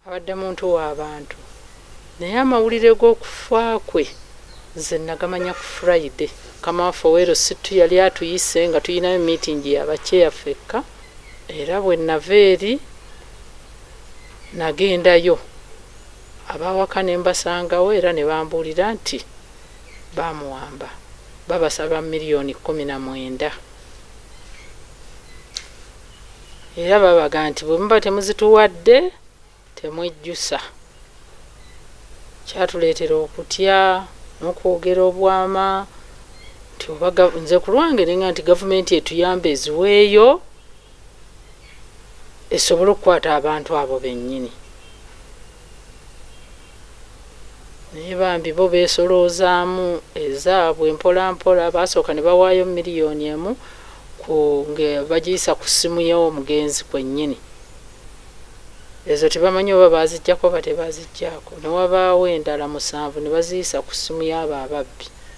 Abadde muntu wa bantu naye amawulire g'okufa kwe nze nagamanya ku Friday. Mukama waffe Ow'Eru Sittu yali atuyise nga tulinayo meeting ya ba Chair ffekka era bwe nava eri nagendayo ab'awaka ne mbasangawo era ne bambuulira nti baamuwamba babasaba million kkumi na mwenda. Era babaga nti bwe muba temuzituwadde temwejjusa. Kyatuleetera okutya n'okwogera obwama nti oba nze ku lwange nenga nti gavumenti etuyambe eziweeyo esobole okukwata abantu abo bennyini. Naye bambi bo beesoloozaamu ezaabwe mpola mpola, baasooka ne bawaayo million emu ku nge bagiyisa ku ssimu y'omugenzi kwennyini. Ezo tebamanyi oba baaziggyako oba tebaaziggyako, ne wabaawo endala musanvu ne baziyisa ku ssimu y'abo ababbi.